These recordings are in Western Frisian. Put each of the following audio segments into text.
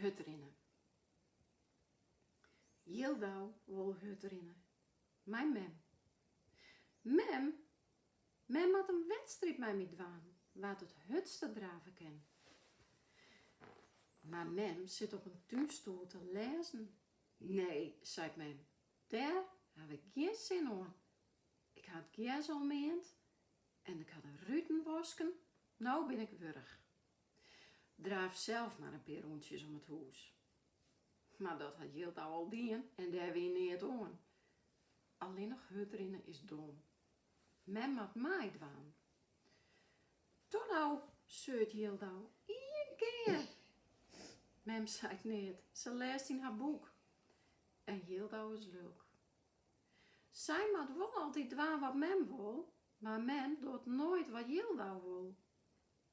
hurd rinne. Jildau wol hurd rinne mei mem. Mem, mem moat in wedstriid mei my dwaan wa't it hurdste drave kin. Mar mem sit op in túnstoel te lêzen. Nee, seit mem, dêr haw ik gjin sin oan. Ik ha it gjers al meand en ik ha de ruten wasken, no bin ik wurch. Draaf sels mar in pear rûntsjes om it hûs. Mar dat hat Jildau al dien en dêr wie neat oan. Allinnich hurdrinne is dom. Mem moat meidwaan. Toe no! seurt Jildau, ien kear. Mem seit neat, se lêst yn har boek. En Jildau is lulk. Sy moat wol altyd dwaan wat mem wol, mar mem docht noait wat Jildau wol.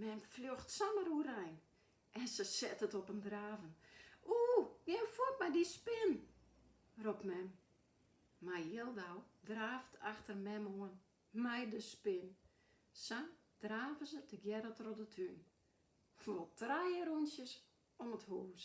Mem fljocht samar oerein en se set it op in draven. Oeh, gean fuort mei dy spin! ropt mem. Mar Jildau draaft achter mem oan mei de spin. Sa drave se tegearre troch de tún, wol trije rûntsjes om it hûs.